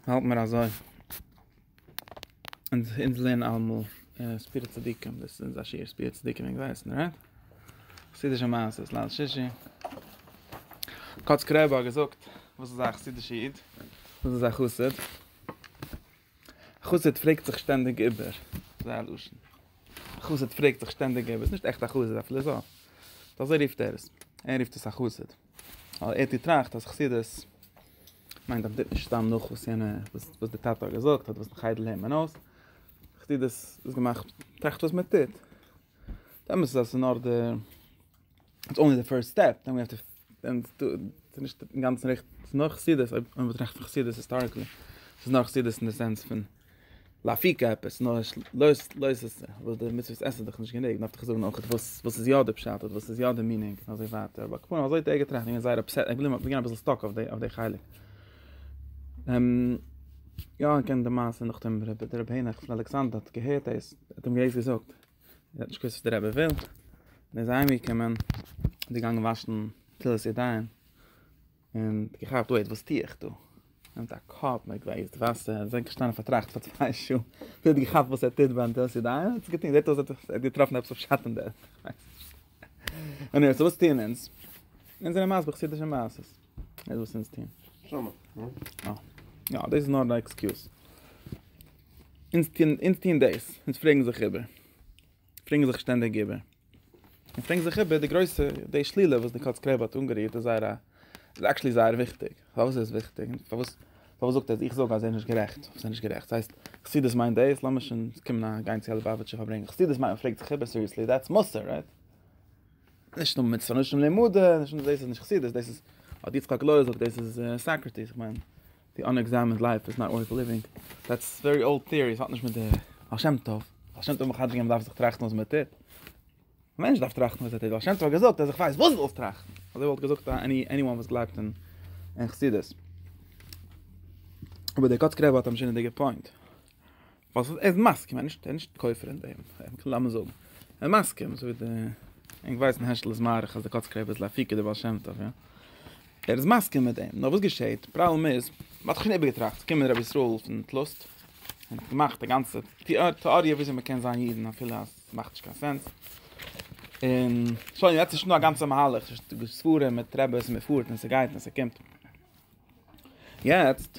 האלט מיר אזוי אונז אונז לערנען אלעמאל ספירת צדיקים דאס איז אונזער שיעור ספירת צדיקים וועגן ווייסן רייט חסידישע מעשה'ס ליל שישי קאץ קרעבא געזאגט וואס איז א חסידישע איד וואס איז א חסיד חסיד פרעגט זיך שטענדיג איבער זיי לשון חסיד פרעגט זיך שטענדיג איבער איז נישט עכט א חסיד א פילאזאף דאס ער רופט ער עס ער רופט עס א חסיד ווייל ער האט געטראכט אז חסידות מיינט אז מען טוט נישט סתם נאך וואס יענע וואס די טאטע האט געזאגט אדער וואס די חדר לערנט מען אויס, חסידות איז געמאכט טראכט וואס מען טוט, די אמת איז אז עס איז נאר די איטס אנלי די פירסט סטעפ, דען ווי עפטער דען ס'איז נישט אינגאנצן ריכטיג, ס'איז נאר חסידות אויב מען באטראכט פון חסידות היסטאריקלי, ס'איז נאר חסידות אין די סענס פון. לאפיקע עפעס נאר נישט לויז לויז עס וואס די מצוות עסן איז דאך נישט גענוג דארף איך זאגן אויך וואס וואס איז יא די פשט אדער וואס איז יא די מינינג אזוי ווייטער אבער כפונקט אזוי האט ער געטראכט און זייער אפסעט איך וויל גיין אביסל סטאק אויף די אויף די חלק יא איך קען די מעשה נאך דעם רבי דער רבי נחמן אלכסנדר האט געהערט דאס האט אים געווען געזאגט ער האט נישט געוואוסט וואס דער רבי וויל און ער איז אהיימגעקומען און געגאנגען וואשן נטילת ידיים און געכאפט וועיט וואס טוה איך דא? נעמט א קאפ מיט גלעזט וואסער און זענקט געשטאנען פארטראכט פאר צוויי שעה ביז ער האט געכאפט וואס ער טוט ביי נטילת ידיים און האט געטוהן, זעט אויס ער האט געטראפן עפעס אויף שאטן דערפון, איך ווייס נישט. עניוועי סאו וואס טוען אונז? אונז זענען מסביר חסידישע מעשות. דאס וואס אונז טוען. שמה, נו. יא, דאס איז נאר א עקסקיוז. אונז טוען דאס, אונז פרעגן זיך איבער. פרעגן זיך שטענדיג איבער און פרעגן זיך איבער די גרויסע די שלילה וואס די קאץ קרעב האט אנגערירט איז זייער א איז עקשלי זייער וויכטיג פארוואס איז עס וויכטיג פארוואס פארוואס זאגט ער אז איך זאג אז ער איז נישט גערעכט וואס איז נישט גערעכט עס הייסט חסידות מיינט דעיס לאמיר שוין קומען א גיין צו א ליבאוויטשע פארברענג חסידות מיינט מען פרעגט זיך איבער סיריעסלי דעטס מוסר רייט נישט נאר מיט סאנושן לימוד נישט דאס איז נישט חסידות דאס איז האט יצחק לוי זאגט דאס איז סאקרטיס איך מיין די אנעקזעמענד לייף איז נאט ווארט ליווינג, דעטס ווערי אולד טעארי, עס האט נישט מיט די בעל שם טוב, בעל שם טוב האט מחדש געווען מען דארף זיך טראכטן וואס מען טוט, א מענטש דארף טראכטן וואס ער טוט, בעל שם טוב האט געזאגט אז איך ווייס וואס זאלסט טראכטן, אזוי וואלט געזאגט א עני וואן וואס גלייבט אין חסידות. אבער דער קאצקער רבי האט א משונה'דיגע פוינט. ווייל ס'איז ער איז מסכים, ער איז נישט ער איז נישט כופר אין דעם, מ'קען לאמיר זאגן, ער איז מסכים אזוי ווי די, ענק ווייסן העשל איז מאריך אז די קאצקע רבי איז להפיק די בעל שם טוב, יא? ער איז מסכים מיט דעם, נאר וואס געשעהט, פראבלעם איז, מ'האט דאך שוין איבערגעטראכט, ס'איז געקומען רבי ישראל פון טלוסט, און האט געמאכט א גאנצע טעאריע וויאזוי מ'קען זיין אידן אפילו אז ס'מאכט נישט קיין סענס, און שוין יעצט איז שוין דא א גאנצע מהלך, ס'איז שוין דא ספרים מיט רעבעס און מ'פארט און ס'גייט און ס'קומט, יעצט.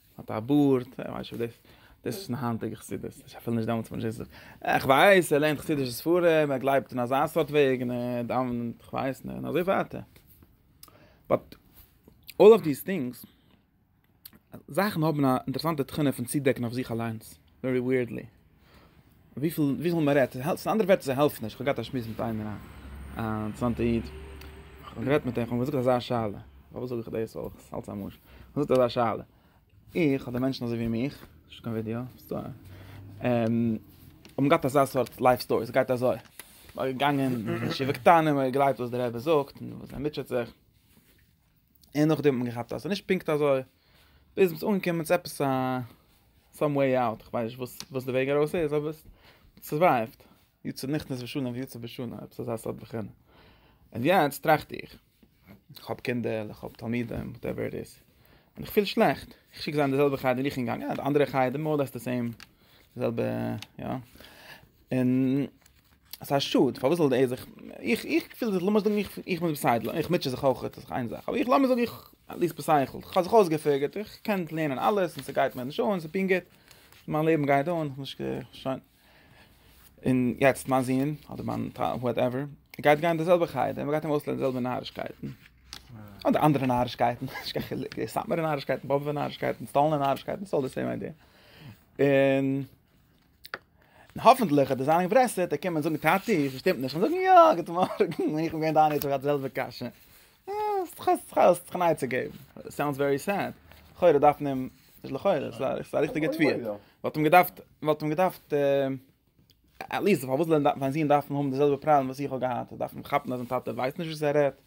האט א בארד, איך ווייס נישט אויב דאס איז פון די היינטיגע חסידות, איך ווייס אפילו נישט דעמאלטס פון וואס מ'רעדט, איך ווייס ער לערנט חסידישע ספרים, ער גלייבט אין אזא סארט וועג, און ער דאווענט, איך ווייס נישט, און אזוי ווייטער. באט אלל אוו דיס טינגס, זאכן האבן א אינטערעסאנטע תכונה פון צודעקן אויף זיך אליינס, ווערי ווירדלי. וויפיל וויפיל מען רעדט, ס'איז אנדערע ווערטער זיי העלפן נישט, כ'האב געהאט א שמועס מיט איינער א אינטערעסאנטע איד, כ'האב גערעדט מיט אים, כ'האב אים געזאגט אזא שאלה, פארוואס זאג איך דאס, ווייל איך האלט ס'איז א משל, כ'האב געזאגט אזא שאלה, איך אדער מענטשן אזוי ווי מיך, נישט קיין ווידעא, האבן געהאט אזא סארט לייף סטארי, ס'גייט אזוי, מ'איז געגאנגען אין ישיבה קטנה, מ'האט געגלייבט וואס דער רבי זאגט, און וואס ער מוטשעט זיך, און נאכדעם האט מען געכאפט אז ס'איז נישט פונקט אזוי, ביז מ'איז אנגעקומען צו עפעס א סאם וועי אוט, איך ווייס נישט וואס די וועג ארויס איז, אבער ס'סורווייווט, יצא נכנס ושנה ויצא בשנה, עפעס אזא סארט בחינה. און יעצט טראכט איך, איך האב קינדער, איך האב תלמידים, וואטעווער איט איז, און איך פיל שלעכט, איך שיק זיי אין די זעלבע חדר ווי איך בין געגאנגען, אדער אנדערע חדר, מאר או לעס די סעים, די זעלבע, יא, און. עס איז א שאד פארוואס זאל ער זיך איך איך פיל זיך לאמיר זאגן איך איך מוז בסיידל איך מוטשע זיך אויך איז איין זאך אבער איך לאמיר זאגן איך ליסט בסייכל איך האב זיך אויסגעפיגערט איך קען לערנען אלעס און ס'גייט מיר נישט אן ס'איז פונקט גוט מיין לעבן גייט אן איך נישט שוין און יעצט מיין זון אדער מיין וואטעווער גייט גיין די זעלבע חייט און מ'גייט אים אויסלערנען די זעלבע נארישקייטן אדער אנדערע נארישקייטן נישט קיין חילוק די סאטמארע נארישקייטן באבוב'ע נארישקייטן סטאלינ'ע נארישקייטן ס'איז אלעס די זעלבע איידיע און און האפענטליך וועט ער זיין אינטרעסירט און קומען זאגן טאטי, ס'שטימט נישט, און זאגן יא, גוט מארגן, און איך בין געווען דיין איד, איך האב געהאט די זעלבע קשיא. האסט זיך נייעצע געבן. סאונדס ווערי סעד. לכאורה דארף מען אים, נישט לכאורה, ס'איז א ריכטיגע תביעה. מ'וואלט אים געדארפט, מ'וואלט אים געדארפט, עטליעסט פארוואס זאל זיין זון דארפן האבן די זעלבע פראבלעם וואס איך האב געהאט? דארף מען כאפן אז זיין טאטע ווייסט נישט וואס ער רעדט?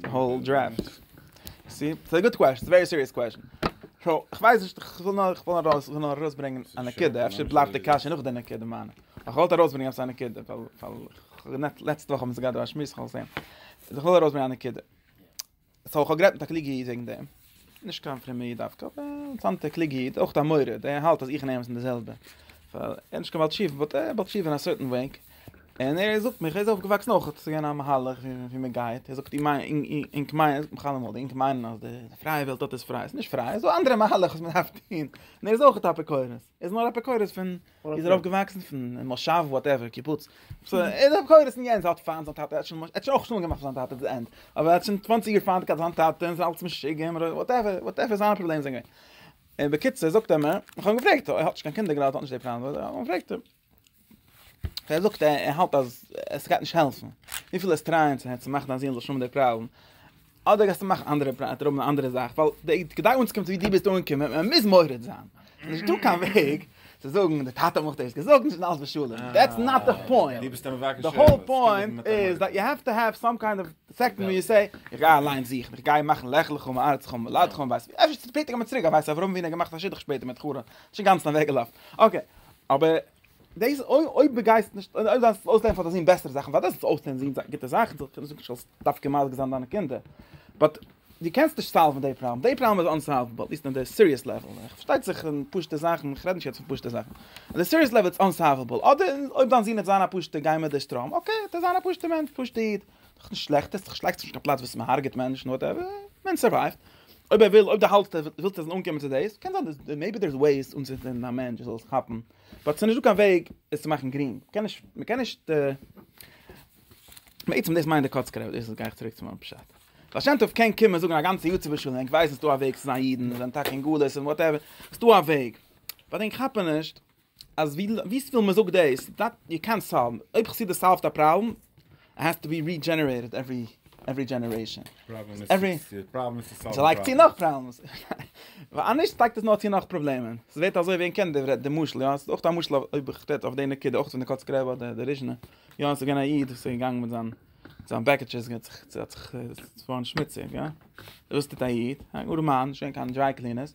די האול דרעפט. סי? ס'איז א גוט קוועשן, ס'איז א ווערי סיריעס קוועשן. סאו, כ'ווייס נישט, כ'וויל נאר, כ'וויל נאר ארויס, כ'וויל נאר ארויסברענגען א נקודה, אפשר בלייבט די קשיא נאך די נקודה מיינע. אבער כ'וואלט ארויסברענגען עפעס א נקודה, ווייל, ווייל, לעצטע וואך האבן מיר עס געהאט דא א שמועס, כ'האב עס געזען. אז איך וויל ארויסברענגען א נקודה. סאו, כ'האב גערעדט מיט א קלוגע איד וועגן דעם. נישט קיין פרומער איד דווקא, אבער א אינטערעסאנטער קלוגער איד, אויך א מורד, ער האלט אז איך און עהם זענען די זעלבע, ווייל ער איז נישט קיין בעל תשובה, באט ער איז א בעל תשובה אין א סערטען וועי, און ער זאגט מיר, ער איז אויפגעוואקסן אויך צו גיין א מהלך ווי מען גייט, ער זאגט איר מיינט, אינק מיינען, איך האב אמאל, די אינק מיינען אז די פרייע וועלט דארט איז פריי, עס איז נישט פריי, עס איז דא אנדערע מהלך וואס מען דארף טוהן, און ער איז אויך א אפיקורס. ער איז נאר אפיקורס פון איז ער אויף געוואקסן פון מושב וואטעווער קיבוץ סאו ער איז אפיקורס אין יענס האט פיינט זיין טאטע ער האט שוין אויך שלום געמאכט זיין טאטע די ענד אבער ער האט שוין צוואנציג יאר פיינט געהאט זיין טאטע און אלץ משוגעים וואטעווער וואטעווער זיינע פראבלעמען זענען געווען בקיצור זאגט ער מיר איך האב אים געפרעגט ער האט נישט קיין קינדער גראדע האט נישט די פראבלעם האב אים געפרעגט ער זאגט ער האלט אז עס גייט נישט העלפן וויפיל עס טרייען צו העצן מאכן דיין זון זאל שומער דער פראבלעם אדער גייסטו מאכן אנדערע פראבלעם אן אנדערע זאך ווייל די כדי אונז קומט ווי די ביסט אנקומען מען מוז מורד זיין נישט דא קיין וועג צו זאגן די טאטע מאכט דאס געזאגט נישט אלס בשולם דעטס נאט די פוינט די ביסט מבקש די האול פוינט איז דאט יו האב טו האב סאם קיינד אוו סעקטן ווי יו זעי איך גיי אליין זוכן איך גיי מאכן לעכלעך און מארץ קומען לאד קומען ווייס אפשר שפעטער קומען צוריק ווייס אווארום ווי נאר געמאכט א שידוך שפעטער מיט חורא שוין גאנץ נאוועגעלאפט אקעי אבער דאס אויב דו גייסט נישט אויב דו דארפסט אויסלערנען פאר דיין זון בעסערע זאכן פארוואס זאלסטו אויסלערנען זיין זיין גוטע זאכן זאל איך נישט זאגן זאלסט דווקא מזיק זיין דיינע קינדער באט דו קענסט נישט סאלוון די פראבלעם די פראבלעם איז אנסאלוועבל אטליסט אין די סיריעס לעוועל איך פארשטייט זיך אין פשוטע זאכן איך רעד נישט יעצט פון פשוטע זאכן אין די סיריעס לעוועל איז אנסאלוועבל אדער אויב דיין זון וועט זיין א פשוטע גיי מיט די שטראם אקעי וועט ער זיין א פשוטע מענטש פשוטע איד דאך נישט שלעכט עס שלעכט נישט קיין פלאץ וואס מען הארגעט מענטשן נאר דער מענטש סורווייווט אויב ער וויל אויב דער האלסט ער וויל צו אנקומען צו דאס קען זיין דאס מעיבי דער איז וועיס אנצינדן א מענטש זאל עס כאפן באט ס'נישט דא קיין וועג עס צו מאכן גרינג מ'קען נישט מ'קען נישט בעצם דאס מיינט די קאצקער אבער דאס איז גייעך צוריק צו מיין פשט בעל שם טוב קען קומען זאגן א גאנצע יאר צו בשלום ענק ווייסן ס'דא א וועג צו זיין אידן זיין טאקע אין גלות און וואטעווער ס'דא א וועג באט ענק כאפן נישט אז ווי וויפיל מען זאגט דאס בלייבט יו קענט סאלוו אויב חסידות סאלווט א פראבלעם איט העז טו בי רידזשענערעיטעד עווערי עווערי דזשענערעישאן ס'לייגט צו נאך פראבלעמס ווייל אנישט לייגט עס נאר צו נאך פראבלעמען ס'ווערט אזוי ווי ענק קען די משל יא ס'איז אויך א משל אויב איך רעד אויף די נקודה אויך פון די קאצקע רבי אדער די ריזשנע יא ס'איז געווען א איד וואס איז געגאנגען מיט זיין זיין בעקעטשעס געט זיך צו האט זיך צו פארן שמוציג יא וואס טוט א איד א גאר מאן נישט געווען קיין דריי קלינערס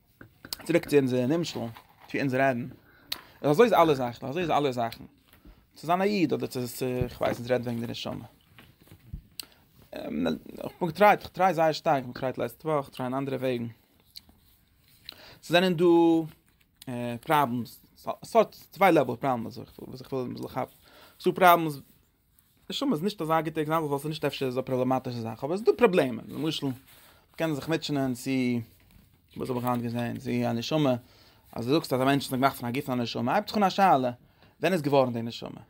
צוריק צו אונזער נמשל, צו אונז רעדן. אזוי איז אלע זאכן, אזוי איז אלע זאכן. צו זיין א איד אדער צו, כ'ווייס נישט, רעד וועגן די נשמה. איך בין געטרייט, איך טריי זייער שטארק, איך בין געטרייט לעצטע וואך, איך טריי אין אנדערע וועגן. ס'זענען דא פראבלעמס, ס'האט צוויי לעוועל פראבלעמס וואס איך וויל כאפן. ס'דא פראבלעמס נשמה איז נישט אזא גוטע עקזאמפל ווייל ס'איז נישט אפשר אזא פראבלאמאטישע זאך אבער עס איז דא פראבלעמען למשל קען זיך מיטשענען צו וואס האב איך היינט געזען צו א נשמה אז דו זאגסט אז א מענטש איז געמאכט פון א גוף פון א נשמה הייבט זיך אן א שאלה ווען איז געווארן די נשמה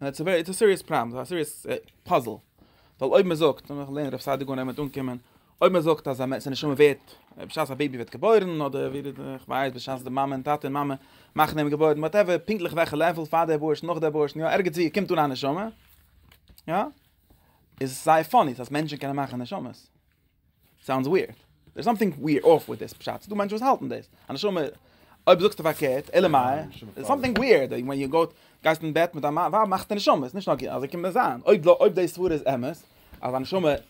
און איטס א סיריעס פראבלעם א סיריעס פאזל ווייל אויב מען זאגט און איך לערן רב סעדיגון ער מיט אנקומען אויב מען זאגט אז א מענטש זיין נשמה ווערט בשעת א בעיבי ווערט געבוירן אדער ווי די איך ווייס בשעת די מאמע און טאטע און מאמע מאכן אים געבוירן וואטעווער פונקטליך וועלכע לעוועל פאר די אבארשן נאך די אבארשן יא ערגעץ ווי קומט אן א נשמה יא איז זייער פאני אז מענטשן קענען מאכן נשמות סאונדס ווירד דער סאמטינג ווירד אף וויט דעס בשעת דו מענטשן וואס האלטן דאס א נשמה אויב זאגסטו פארקערט אלא מאי דער סאמטינג ווירד ווען יו גאט גייסט אין בעט מיט א מאן וואו מאכסטו נשמות נישט נאר אז ער קומט מזיין אויב אויב דעי סברה איז אמת אז א נשמה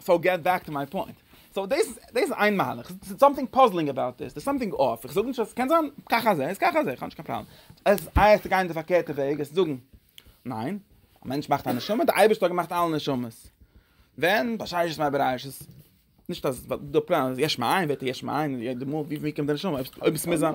סאו געט בעק טו מיי פוינט. סאו דאס דאס איז איין מהלך. סאיז סאמטינג פאזלינג אבאוט דיס. דער סאמטינג אף. איך זאג נישט אז סקען זיין כך אזי איז כך אזי. איך האב נישט קיין פראבלעם. עס הייסט צו גיין די פארקערטע וועג עס צו זאגן. ניין. א מענטש מאכט א נשמה. דער אייבערשטער האט געמאכט אלע נשמות. ווען? בששת מעביר עשת. נישט אז די פלאן איז יש מאין וועט ער יש מאין. די מאל ווי קומט די נשמה. אויב עס מוז זיין.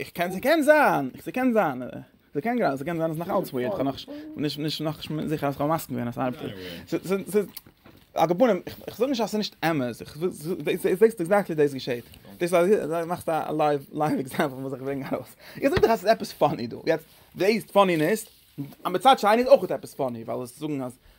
איך קען ס'קען זיין, ס'קען זיין, ס'קען גראדע, ס'קען זיין אז נאך אלץ ווירט, כ'האב נאך נישט נישט נאך נישט זיכער אז כ'האב מסכים געווען אז ס'ארבעט אזוי. על כפונים, איך זאג נישט אז ס'נישט אמת, איך זעסט עקזעקטלי דאס געשעהט, דאס אז מאכסט א לייוו עקזעמפל וואס איך ברענג ארויס, איך זאג דאך אז ס'איז עפעס פאני דא, יעצט דאס פאנינעס, מצד שני איז אויך עפעס פאני, ווייל זאגן אז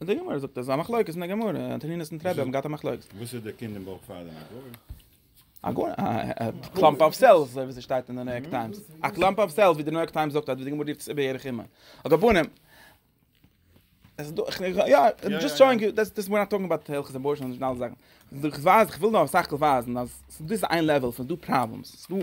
און די גמרא זאגט אז א מחלוקת אין די גמרא און תנינת אין טרעבי האבן געהאט א מחלוקת. וואס איז די קינד אין בויך פאר דעם א גוי? א גוי? א קלאמפ אוו סעלס אזוי ווי עס שטייט אין די ניו יארק טיימס. א קלאמפ אוו סעלס ווי די ניו יארק טיימס זאגט אז ווי די גמרא רופט עס איבער ירח אמער. על כל פנים. עס דא איך איך יא דזשאסט שאואינג יו דעס דעס ווי נאט טאלקינג אבאוט הלכות אבארשען און אנדערע זאכן. איך ווייז איך וויל נאר סך הכל ווייזן אז ס'דא איז איין לעוועל פון ס'דא פראבלעמס. ס'דא.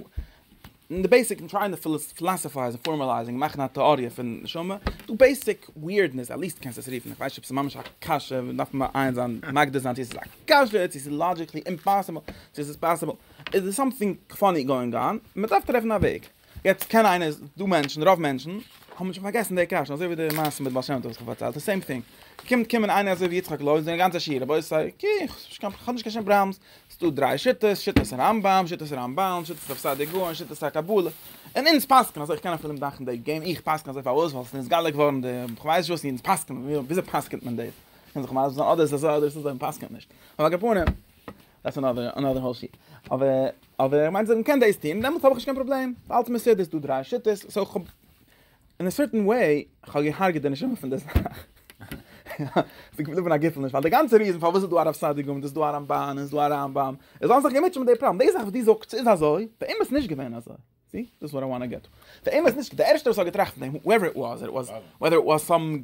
אין די בעיסיק און טרייען די פילאסעפייזן און פארמאלייזן און מאכן א טעאריע פון נשמה איז דא בעיסיק ווירדנעס עטליעסט קענסט עס רופן איך ווייס נישט אויב ס'איז ממש א קשיא ווען דארף מען מעיין זיין מגדיר זיין צו ס'איז א קשיא צו ס'איז לאדזשיקלי אימפאסיבל צו ס'איז פאסיבל איז דא סאמטינג פאני גאואינג אן און מ'דארף טרעפן א וועג יעצט קען איינער איז דא מענטשן רוב מענטשן האבן שוין פארגעסן די קשיא אזוי ווי די מעשה מיט בעל שם טוב וואס איך האב פארציילט די סעים טינג קומט קומען איינער אזוי ווי יצחק לוי און זענען גאנצע שיעור רבותי קיי כ'האב נישט קיין שום פראבלעם ס'דא דריי שיטות, שיטת הרמב ם, שיטת הרמבן, שיטת רב סעדיה גאון, שיטת הקבלה, און אונז פסק'נען אזוי, איך קען אפילו נישט דאנקען די געימ, איך פסק'ן אזוי פארוואס? ווייל ס'איז נתגלה געווארן די, כ'ווייס נישט וואס אונז פסק'נען, וויאזוי פסק'נט מען דאס? קען זיך מסביר זיין אדער איז אזוי אדער איז אזוי, מ'פסק'נט נישט. אבער על כל פנים, דעטס אנאדער אנאדער האול שיט. אבער אבער איך מיין זאגן מ'קען דאס טון, דעמאלטס האב איך נישט קיין פראבלעם, אלץ מ'איז סדר, ס'דא דריי שיטות, סאו כ'האב. אין א סערטען וועי, כ'האב געהארגעט די נשמה פון די זאך. ס'איז געבליבן א געפעלניש, ווייל די גאנצע ריזען פארוואס איז דא הרב סעדיגורא און ס'איז דא א רמבן און ס'איז דא א רמב ם, איז אלעס זיך געמוטשעט מיט די פראבלעם. די זאך וואס דו זאגסט ס'איז אזוי, באמת איז נישט געווען אזוי. סי? דאס איז וואט איי וואנט טו געט טו. באמת נישט, די ערשטער וואס האט געטראכט פון דעם, הועווער איט וואס, וועדער איט וואס סאם.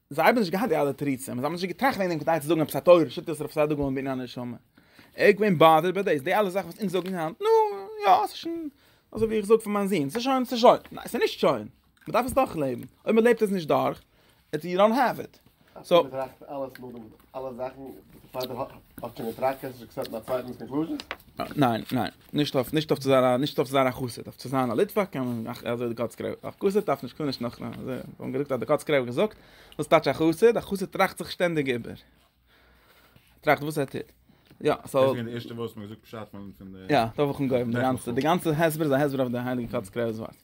זיי האבן נישט געהאט די אלע תירוצים, זיי האבן נישט געטראכט וועגן דעם כדי צו זאגן עפעס א תורה, שיטת רב סעדיגורא און בניין הנשמה. ער איז געווען באדערט ביי דאס, די אלע זאכן וואס אונז זאגן היינט, נו, יא, ס'איז שוין, אזוי ווי איך זאג פאר מיין זון, ס'איז שוין, ס'איז שוין. ניין, ס'איז נישט שוין. מ'דארף עס דורכלעבן. אויב מ'לעבט עס נישט דורך, איטס יו דאנט העוו איט. אפילו מ'טראכט אלעס נאכדעם, אלע זאכן, פאר די האט שוין געטראכט, קענסטו נישט עקסעפטן א צווייטנס קאנקלוזשען? ניין, ניין. נישט אויף נישט אויף צו זיין נישט אויף צו זיין א חסיד אויף צו זיין א ליטוואק קען מען אך אזוי די קאצקער א חסיד דארף נישט קען נישט נאך אזוי און געזאגט אז די קאצקער האט געזאגט וואס טייטש א חסיד א חסיד טראכט זיך שטענדיג איבער טראכט וואס ער טוט יא סאו איז די ערשטע וואס מיר געזאגט פשט פון פון די יא דארף איך געבן די גאנצע די גאנצע הסבר איז א הסבר אויף די הייליגע קאצקער איז וואס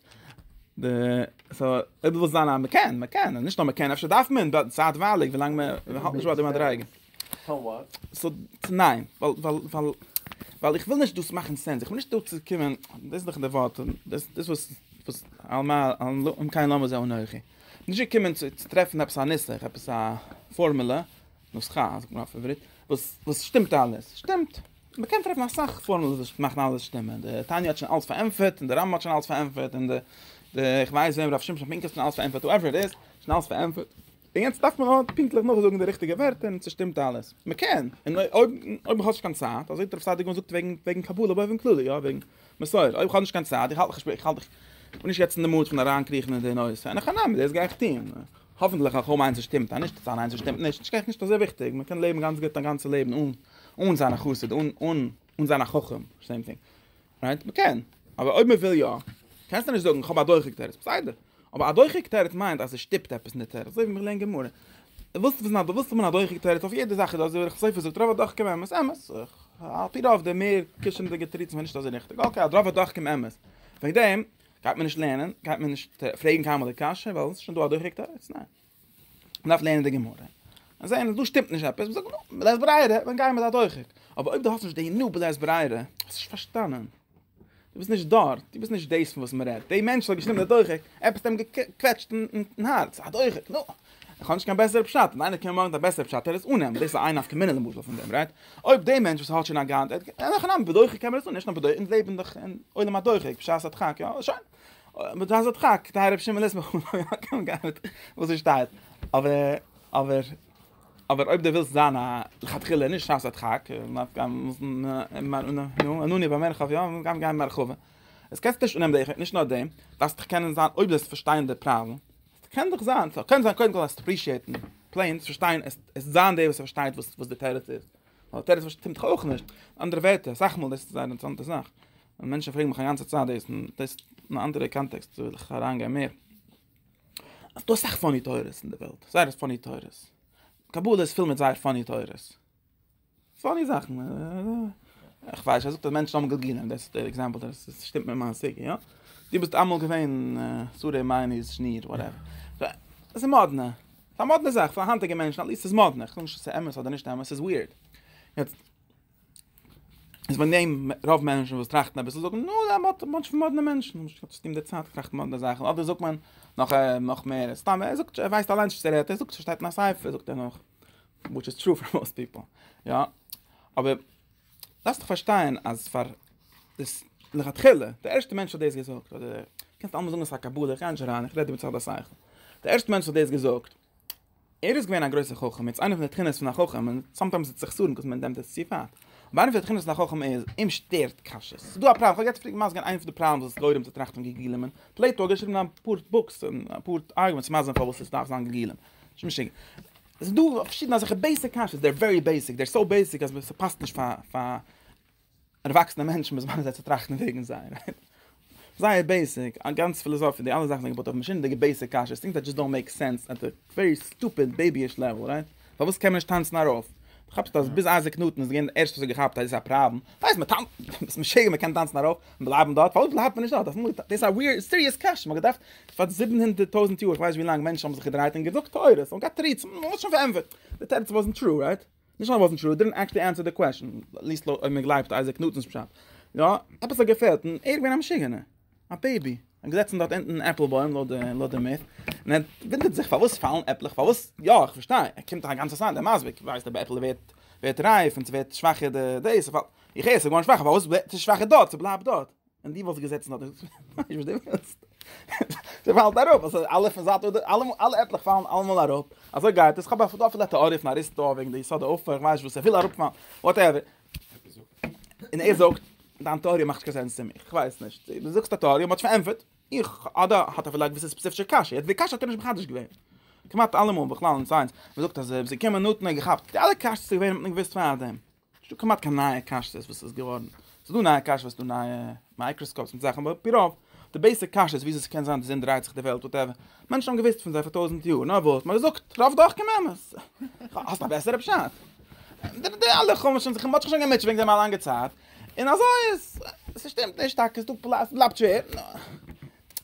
די סאו אויב ווילסט זיין א מקען מקען נישט נאר מקען אפשר דארף מען צייטווייליג ווילאנג מען האלט נישט ביי די מדריגה סאו וואט? סאו צו ניין, ווייל ווייל ווייל ווייל איך וויל נישט דאס מאכן סענס, איך בין נישט דא צו קומען, דאס איז דאך די ווארט, דאס דאס וואס וואס על מה על לא אם כן למה זה אנכי, נישט געקומען צו צו טרעפן עפעס א נוסח, עפעס א פארמולע, נוסחא זאגט מען אויף עברית, וואס וואס שטימט אלעס, שטימט, מען קען טרעפן אסאך פארמולעס וואס מאכן אלעס שטימען, די תניא האט שוין אלעס פארענטפערט, און די רמב ם האט שוין אלעס פארענטפערט, און די די איך ווייס וועם ר' שמשון פינקער האט שוין אלעס פארענטפערט, הועווער איט איז, שוין אלעס פארענטפערט. און יעצט דארף מען נאר פונקטליך נאכזאגן די ריכטיגע ווערטער און ס'שטימט אלעס. מ'קען, און אויב אויב מ'האט נישט קיין צייט, אזוי ווי רב סעדיגורן זאגט וועגן וועגן קבלה באופן כללי, יא, וועגן מסורה, אויב כ'האב נישט קיין צייט, איך האלט איך שפיר איך האלט איך בין נישט יעצט אין די מוד פון אריינקריכן אין די נושא, אין הכא נמי, דאס גיי איך טון. האפנטליך א חו מ איינס ס'שטימט, א נישט א ניין ס'שטימט נישט, נישט קיין נישט אזוי וויכטיג, מ'קען לעבן גאנץ גוט א גאנצע לעבן אן אן זיין א חסיד, אן אן אן זיין א חכם, סעים טינג. רייט? מ'קען. אבער אויב מ'וויל יא, קענסטו נישט זאגן כ'האב א דוחק תירוץ. בסדר. אבער א דוחק תירוץ מיינט אז עס שטופט עפעס אין די תירוץ. אזוי ווי מ'לערנט גמרא. ווילסט וויסן א, ווילסט האבן א דוחק תירוץ אויף יעדע זאך איז דא אזוי ווי סופר זאגט רוב הדוחקים אמת. אמת. על פי רוב די מער קישענדיגע תירוצים זענען נישט אזוי ריכטיג. אקעי אז רוב הדוחקים אמת. וועגן דעם גייט מען נישט לערנען, גייט מען נישט פרעגן קיינמאל די קשיא ווייל עס איז שוין דא א דוחק תירוץ. ניין. מען דארף לערנען די גמרא, און זען אז דא שטימט נישט עפעס, מען זאגט נו, בלית ברירה, דאן גייען מיר דארט אויך. אבער אויב דו האסט נישט די נו בלית ברירה, האסט נישט פארשטאנען, דו ביסט נישט דארט, דו ביסט נישט דאס פון וואס מען רעדט, דער מענטש וואס האט געשריבן דער דוחק, עפעס האט אים געקוועטשט אין הארץ, א דוחק, נו, איך האב נישט קיין בעסערע פשט, אויב איינער קען מאכן א בעסערע פשט, טאר ער עס אננעמען, דאס איז איין נפקא מינה למשל פון דעם, רייט? אויב דער מענטש וואס האט שוין א גאנצע, נאכאנאנד, בדוחק קען מען עס אננעמען, נישט נאר בדוחק, אונז לעבן דאך אין עולם הדוחק, בשעת הדחק, יא, שוין. אבער דאס האט חק די רב שמעון ליסמך קען גיין מיט וואס עס שטייט אבער אבער אבער אויב די ווילסט זיין א לכתחילה נישט שייך זאט חק מאט גיין מוזן מאן און נו און נו באמען חב יאם גיין גיין מאר חב עס קענסט נישט אנעמען די נישט נאר דעם דאסט דיך קענען זיין אויב דאס פארשטיין די פראבלעם קען דאך זיין סא קען זיין קודם כל אז אפרישיעטן פלעין צו פארשטיין עס עס זיין דער וואס פארשטייט וואס וואס די טערעט איז אבער טערעט פארשטימט אויך נישט אנדערע ווערטער סאך מאל דאס איז א אינטערעסאנטע זאך און מענטשן פרעגן מיך א גאנצע צייט דאס און דאס אין א אנדערע קאנטעקסט וויל איך אריינגיין מער אז דאס אכט פאני תורות אין די וועלט זייער פאני תורות קבלה איז פול מיט זייער פאני תורות פאני זאכן איך ווייס אז דער מענטש האבן געגליען דאס איז דער עקזעמפל דאס שטימט מיט מיין סיגע יא די ביסט אמאל געווען סורי מיין איז שניר וואטעווער דאס איז מאדנע א מאדנע זאך פאר היינטיגע מענטשן אליסט איז מאדנע איך זאג נישט עס איז אמת אדער נישט אמת עס איז וויערד יעצט איז ווען דעם רוב מענטשן וואס טראכטן אביסל זאגן נו דער מאט מאט פון מאדנע מענטשן נישט גוט צו אים דער צייט טראכט מאדנע זאכן אדער זאגט מען נאך נאך מער סתם ער זאגט ער ווייסט אליין נישט וואס ער רעדט ער זאגט שטייט אין א סייפער זאגט ער נאך which is true for most people יא אבער דאס צו פארשטיין אז פאר דאס לכתחילה דער ערשטער מענטש האט דאס געזאגט אדער קענסט אלעמאל זאגן עס א קבלה איך גיי נישט אריין איך רעד איבער צד השכל דער ערשטער מענטש האט דאס געזאגט ער איז געווען א גרויסער חכם, יעצט איינע פון די תכונות פון א חכם, און סאמטיימס איז סכסוך וואס מען נעמט עס צו ווייט, אבער איינע פון די תכונות פון א חכם איז, אים שטערט קשיות. ס'איז דא א פראבלעם, כ'האב יעצט פריער געמאסגען איינע פון די פראבלעמס וואס גורם צו טראכטן ווי געגולים און פלעיטא האט געשריבן אפאר בוקס און אפאר ארגומענטס מאסגען פארוואס עס דארף זיין געגולים. ס'איז משוגע. ס'איז דא פארשידענע אזעלכע בעיסיק קשיות, דער ווערי בעיסיק, דער סאו בעיסיק אז ס'פאסט נישט פאר פאר ערוואקסענע מענטשן מוז מען זיי צו טראכטן וועגן זיי זייער בעיסיק א גאנץ פילאזאפיע די אלע זאכן זענען געבויט אויף משונה'דיגע בעיסיק קשיות טינגס דעט זשאסט דאנט מעיק סענס עט די ווערי סטופיד בעיבי'ש לעוועל רייט פארוואס קען מען נישט טאנצן ארויף כאפסט אז ביז אייזיק ניוטאן איז געווען דער ערשטער וואס האט געכאפט אז דאס איז א פראבלעם פארוואס מען טאנצט ביסט משוגע מען קען טאנצן ארויף און בלייבן דארט פארוואס בלייבט מען נישט דארט אפאר דאס איז א וויערד סיריעס קשיא מען האט געדארפט פאר זיבן הונדערט טויזנט יאר איך ווייס נישט ווי לאנג מענטשן האבן זיך געדרייט און געזאגט תורות און מ'האט שוין פארענטפערט די תירוץ וואזנט טרו רייט נישט ווייל וואסנט שו דידנט עקטשלי ענסער די קוועשן, עטליסט לויט אויב מען גלייבט אייזיק ניוטאן'ס פשט, יא, עפעס האט געפעלט און ער איז געווען א משוגענער, א בעיבי, און געזעצן דארט אונטן אין עפל בוים לויט די מיט, און ער ווינדערט זיך פארוואס פאלן עפלעך פארוואס, יא איך פארשטיי, ער קומט א גאנצע צייט דער מזוויג ווייסט אויב א עפל ווערט ווערט רייף און ס'ווערט שוואכער די דעיס, איך הער ס'איז געווארן שוואכער פארוואס ווערט עס שוואכער דארט, ס'בלייבט דארט. און די וואס געזעצן האט איך ווייס וואס די ווילסט זיי פאלט אראפ אז אלע פון זייט אדער אלע אלע עטליך פאלן אלעמאל אראפ אזוי גייט עס כאב פון דא טעאריע פון אריסטו וועגן די יסוד אויף איך ווייס וואס ער וויל אראפ פאלן וואטעווער אין ער זאגט דאן טעאריע מאכט קיין סענס צו מיך איך ווייס נישט דו זאגסט א טעאריע מאט פארענטפערט איך אדער האט ער פילייט געוויסע ספעציפישע קאש יעצט די קאש האט ער נישט מחדש געווען כמעט אלעמאל בכלל אין סיינס מ'זאגט אז זיי קען מען נאטן געכאפט די אלע קאש צו ווען מען געוויסט פאר דעם ס'נישט דא כמעט קיין נייע קשיות וואס איז געווארן. ס'איז דא נייע קשיות וואס דא נייע מייקראסקאופס מיט זאכן אבער עפ י רוב די בעיסיק קשיות וויאזוי ס'קען זיין די זון דרייט זיך די וועלט וואטעווער. מענטשן האבן געוואוסט פון זיי פאר טויזנט יאר נאר וואס מ'האט געזאגט רוב דוחקים אמת. האסט א בעסערע פשט? די די אלע חומשים זיך מ'האט זיך שוין געמוטשעט וועגן דעם א לאנגע צייט און אזוי איז ס'שטימט נישט טאקע ס'דא פלא ס'בלייבט שווער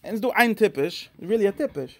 און ס'דא איין טיפש ריעלי א טיפש.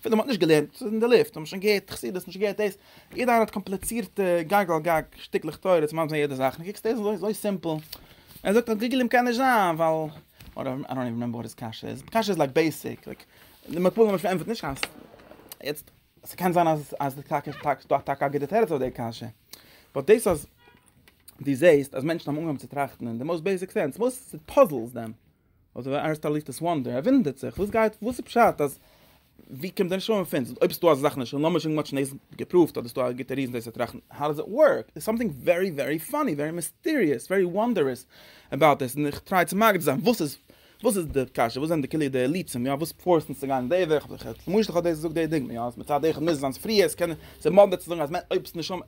אפילו מען האט נישט געלערנט, ס'איז אין די לופט, האבן שוין געהערט חסידות, נישט געהערט דאס, יעדער איינער האט קאמפליצירטע גג על גג שטיקלעך תורות, ממז אין יעדע זאך, און קוקסט דאס איז אזוי סימפל, ער זאגט אז גוגלים קען נישט זיין ווייל, אדער איי דאנט איווען רימעמבער וואט היז קשיא איז, קשיא איז לייק בעיסיק, לייק די מקוה למשל ענטפערט נישט אז, יעצט, ס'קען זיין אז אז די טאקע טאקע דא טאקע א גוטע תירוץ אויף די קשיא, באט דאס אז דו זעהסט אז מענטשן האבן אנגעהויבן צו טראכטן אין די מאוסט בעיסיק סענס, וואס פאזעלס דען? האט דער אריסטאליטעס וואנדער, ער וואונדערט זיך, וואס גייט, וואס איז פשט אז, ווי קומט דען שלום פון, אויב ס'דא אזא זאך אין שלום, לאמיר שוין מוטשען דאס געפראווט אדער ס'דא א גוטע ריזן דאס צו טראכטן, האו דאז איט ווארק, דער איז סאמטינג ווערי ווערי פאני, ווערי מיסטעריעס, ווערי וואנדערעס אבאוט דעס, און איך טריי צו מגדיר זיין וואס איז, וואס איז די קשיא, וואס זענען די כלי די אילוצים, יא, וואס פארסט אונז צו גיין די וועג, כ'האב זיך למשל כ'האב דאס געזאגט די דוגמא, יא, אז מצד אחד מוז עס זיין ספריות, ס'מאדנע צו זאגן אז אויב ס'נישט שלום.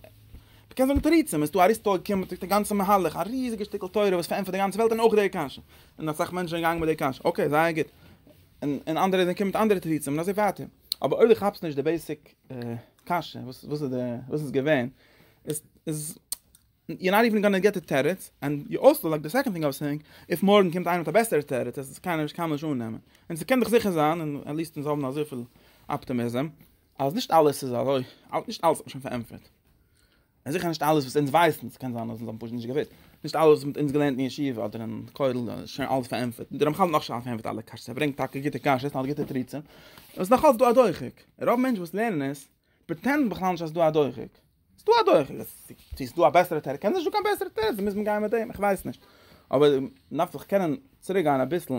מען קען זאגן תירוצים, עס איז דא אריסטו האט געקומען צוריק די גאנצע מהלך, א ריזיגע שטיקל תורה וואס פארענטפערט די גאנצע וועלט און אויך די קשיא, און אסאך מענטשן זענען געגאנגען מיט די קשיא, אקעי זייער גוט, און און אנדערע זענען געקומען מיט אנדערע תירוצים און אזוי ווייטער, אבער אויב דו כאפסט נישט די בעיסיק קשיא וואס וואס איז די וואס איז געווען, איז איז יו נאט איווען גאננע געט די תירוץ, ענד יו אלסא לייק די סעקאנד טינג אוו סעיאינג, איף מארגן קומט איינער מיט א בעסערע תירוץ אז עס איז קיינער נישט קיינמאל נישט אננעמען, און ס'קען דאך זיכער זיין, און עט ליעסט אונז האבן אזויפיל אפטעמיזם. אז נישט אלעס איז אזוי, נישט אלעס האט מען שוין פארענטפערט. און זיכער נישט אלעס וואס אונז ווייסן, ס'קען זיין אז אונז האבן פשוט נישט געוואוסט. נישט אלעס וואס מ'האט אונז געלערנט אין ישיבה אדער אין כולל איז שוין אלעס פארענטפערט. דער רמחל האט נאך נישט אלעס פארענטפערט אלע קשיות, ער ברענגט טאקע גוטע קשיות און האט גוטע תירוצים. און ס'איז נאך אלעס דא א דוחק. רוב מענטשן וואס לערנען עס, פרעטענדן בכלל נישט אז ס'איז דא א דוחק. ס'איז דא אדורך, צו ס'איז דא א בעסערע תירוץ, קען נישט דא קיין בעסערע תירוץ, דערמיט מוז מען גיין מיט דעם, איך ווייס נישט, אבער מ'דארף זיך קענען צוריק גיין אביסל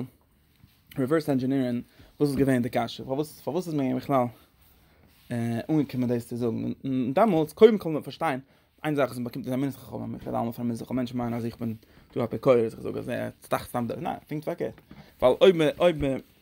ריווערס ענדזשענירען וואס איז געווען די קשיא, פארוואס פארוואס איז מען בכלל אנגעקומען דאס צו זאגן, און דעמאלטס קודם כל מ'דארף פארשטיין, איין זאך איז מ'באקומט עס א מינוס חכמים, איך רעד אלעמאל פון א מינוס חכמים, מענטשן מיינען אז איך בין דא אפיקורס, איך זאג אז ער טראכט סתם דורך, ניין, פונקט פארקערט, ווייל אויב מ'אויב מ'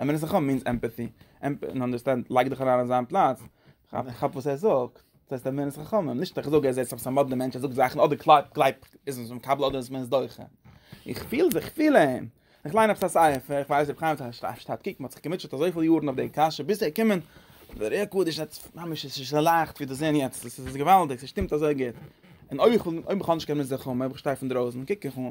אמונה איז חכם מיינס עמפעטי, עמפעטי און אנדערסטענד, לייג דיך אריין אין זיין פלאץ, כאפ וואס ער זאגט, דאס הייסט אמונה איז חכם, נישט איך זאג ער איז עפעס א מאדנע מענטש ער זאגט זאכן אדער קלייבט קלייבט איז עס מקבל אדער איז מען עס דוחה, איך פיל זיך פיל אים, איך ליין עפעס א ספר, איך ווייס איך האב חיים שטארק קוק מען האט זיך געמוטשעט אזויפיל יארן אויף די קשיא ביז ער קומען, דער ר ק איז ממש עס איז לייכט ווי דאס זען יעצט עס איז געוואלדיג עס שטימט אזוי גוט, און אויב איך אויב איך האב נישט קיין אמונה איז חכם אויב איך שטיי פון דרויסן קוק איך אן.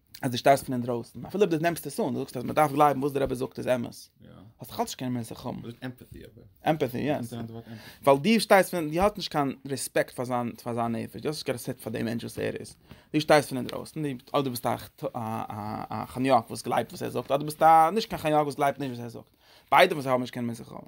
אז דו שטייסט פון אינדרויסן אפילו אויב דו נעמסט עס אן דו זאגסט אז מען דארף גלייבן וואס דער רבי זאגט איז אמת האסט דאך אלץ קיין מעסער חם עמפאטי אבער עמפאטי יא ווייל דו שטייסט פון דו האט נישט קיין רעספעקט פאר זיין פאר זיין נפש דו האסט נישט קיין רעספעקט פאר דעם מענטש וואס ער איז דו שטייסט פון אינדרויסן אדער דו ביסט א א חניאק וואס גלייבט וואס ער זאגט אדער ביסט א נישט קיין חניאק וואס גלייבט נישט וואס ער זאגט ביידע וואס האבן נישט קיין מעסער חם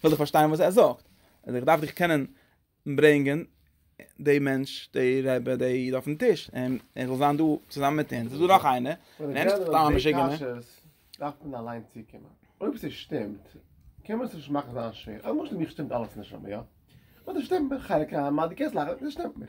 כ'וויל דאך פארשטיין וואס ער זאגט. און איך דארף דיך קענען ברענגען די מענטש, די רעבע, די איד אויפן טיש. און ער זאל זיין דא צוזאמען מיט אונז. איז דא נאך איינער? און ער איז נישט סתם א משוגענער. אויב ער זאגט די קשיות, דארף מען אליין צוקומען. אויב עס שטימט, קען מען עס נישט מאכן זיין שווער. למשל מיך שטימט אלעס, נשמה, יא? אדער שטימט מיר? חלק ה, מד י, קענסט לאכן, עס שטימט מיר.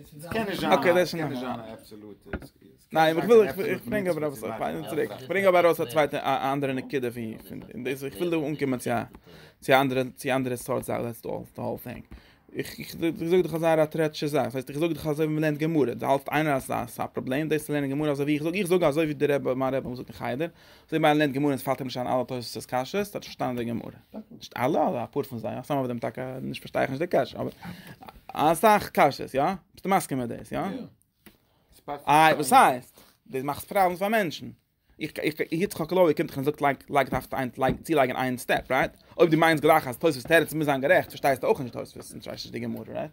עס קען נישט זיין א אבסעלוטע סקווירא. ניין איך וויל איך ברענג אבער עפעס א פיין צוריק. איך ברענג אבער ארויס א צווייטע א אנדערע נקודה פון און דאס איך וויל דא אנקומען צו א צו א אנדערע צו א אנדערע סארט זאך דעטס אלל די האול טינג. איך איך זאג דיך אזא ראטרעטשע זאך. דאס הייסט איך זאג דיך אזוי ווי מ'לערנט גמרא. דו האלטסט איינער אז ס'איז א פראבלעם דאס צו לערנען גמרא אזוי ווי איך זאג. איך זאג אזוי ווי די רבי מיין רבי האט געזאגט אין חדר. זיי מיין לענד גמור איז פאלט אים נישט אן אלע תוספות איז קאשע איז דאס שטאנען די גמור נישט אלע אלע אפאר פון זיי אסאך אבער דעם נישט פארשטיי איך נישט די קאשע אבער אסאך קאשע איז יא ביסט מאסקע מיט דאס יא איי וואס הייסט דאס מאכט פראבלעמס פאר מענטשן איך איך איך האב קלאר געקומט איך זאגט לייק לייק דארף דיין לייק צי לייגן איין סטעפ רייט אויב די מיינס גלייך אז תוספות טערעט מיז זיין גערעכט פארשטייסטו אויך נישט תוספות נישט די גמור רייט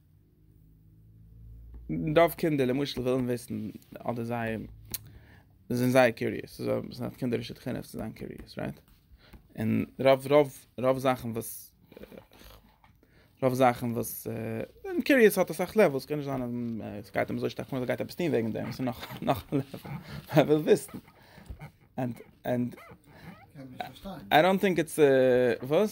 רוב קינדער למשל ווילן וויסן אדער זיי זענען זייער קיוריעס ס'איז א ס'איז א קינדערישע חינוך צו זיין קיוריעס רייט און רוב רוב רוב זאכן וואס רוב זאכן וואס און קיוריעס האט אסאך לעוועלס קען נישט זיין אז ס'גייט אים אזוי שטארק נאר אז ער גייט עפעס טון וועגן דעם ס'איז נאך נאך א לעוועל ער וויל וויסן אנד אנד איי דאנט טינק איטס וואס?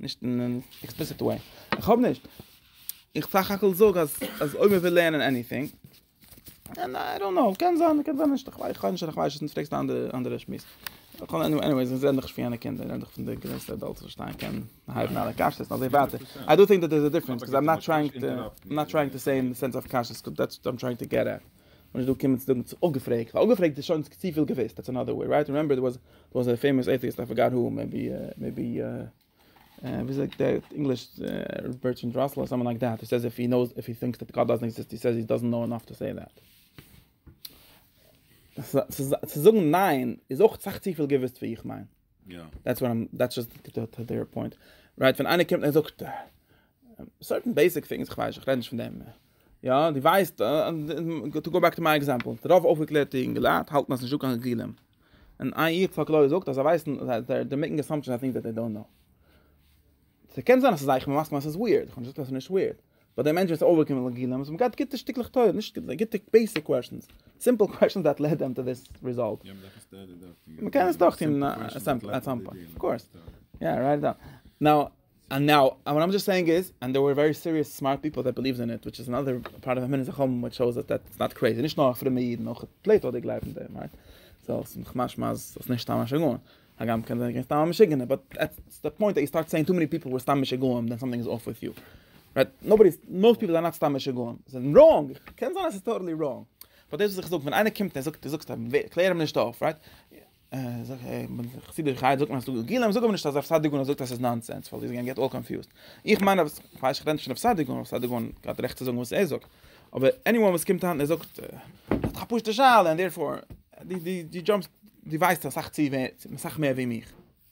נישט אין אן עקספליסיט וועי. איך האב נישט. איך סך הכל זאג אז אויב מ'וויל לערנען עניטינג. און איי דאנט קנאו, קען זיין, קען זיין נישט, איך ווייס נישט, איך ווייס נישט, פרעגסט א אנדערע שמועס. עניוועיס, איך רעד נאך נישט פון יענע קינדער, איך רעד נאך פון די גרעסטע עדאלטס וואס שטייען קענען הייבן אלע קשיות און אזוי ווייטער. איי דו טינק דעט דעירס א דיפרענס, קאוז איים נאט טרייאינג טו, איים נאט טרייאינג טו סעי אין די סענס אוו קשיות, דעטס וואט איים טרייאינג טו געט עט. מען איז דא געקומען צו זאגן צו אפגעפרעגט, ווייל אפגעפרעגט איז שוין צופיל געוויסט, דעטס אנאדער וועי רייט, רימעמבער דער וואס א פעימאס עיטיעסט איי פארגאט הו, מעיבי מעיבי ווי זאגט דער ענגליש בערטראנד ראסל אדער סאמאן לייק דעט, הו סעיז איף הי נאוס איף הי טינקס דעט גאט דאזענט עקזיסט הי סעיז הי דאזענט נאו ענאף טו סעי דעט. צו זאגן ניין איז אויך סאך צופיל געוויסט ווי איך מיין, דעטס וואט איים דעטס זשאסט דער פוינט, רייט ווען איינער קומט און זאגט. סארטן בעיסיק טינגס איך ווייס איך רעד נישט פון דעם יא די ווייסט טו גא בעק טו מיי עקזעמפל דער רוב אויפגעקלערטע אינגעלייט האלטן אז נישטא קיין גבולים און איי איך פאר קלאר זאגט אז זיי ווייסן דער מעקן אסאמפשען אז טינגס דעט זיי דאנט נאו סע קען זיין אז ס'איז איך מסכים אז ס'איז ווירד איך האב נישט געזאגט אז ס'איז נישט ווירד באט דער מענטש וואס אויפגעקומען מיט גבולים און געט גוטע שטיקלעך תורה נישט גוטע בעיסיק קוועשאנס סימפל קוועשאנס דעט לעד דעם טו דיס ריזאלט מ'קען עס דורך טון אויף סאם פוינט אויף קאורס יא רייט איט דאון נאו און נאו, און וואט איים דזשאסט סעיאינג איז, און דער ווער ווערי סיריעס סמארט פיפל דעט ביליווס אין איט, וויטש איז אנאדער פארט אוו מנין החמה וויטש שאוס דעט איטס נאט קרעיזי, נישט נאר פרומע אידן אויך פלעטו האט געגלייבט אין דעם, רייט? סאו עס איז נאך משמע אז עס איז נישט סתם א שגעון, הגם קען זיין געווען סתם א משוגענער, באט עטס די פוינט דעט יו סטארט סעיאינג טו מעני פיפל וואס סתם משוגעים דען סאמטינג איז אףף וויט יו, רייט? נאובאדי איז, מאוסט פיפל זענען נאט סתם משוגעים, זיי זענען ראנג, קען זיין אז עס איז טאטעלי ראנג, באט דאס וואס איך זאג ווען איינער קומט און ער זאגט, דו זאגסט אים, קלער אים נישט אויף, רייט? זאג איך, בין איך חסיד איך הייב זאגט מען אז ס'דא גילאים, זאג אבער נישט אז רב סעדיגון האט געזאגט אז ס'איז נאנסענס, ווייל איז געווען געט אלל קאנפיוזד, איך מיין אז, כ'ווייס נישט כ'רעד נישט פון רב סעדיגון, רב סעדיגון האט רעכט צו זאגן וואס ער זאגט, אבער עניוואן וואס קומט אהן און זאגט, ער האט דאך א פשוטע שאלה, און דערפאר, די די די דזשאמפסט, די ווייסט אסאך צו מער, אסאך מער ווי מיך.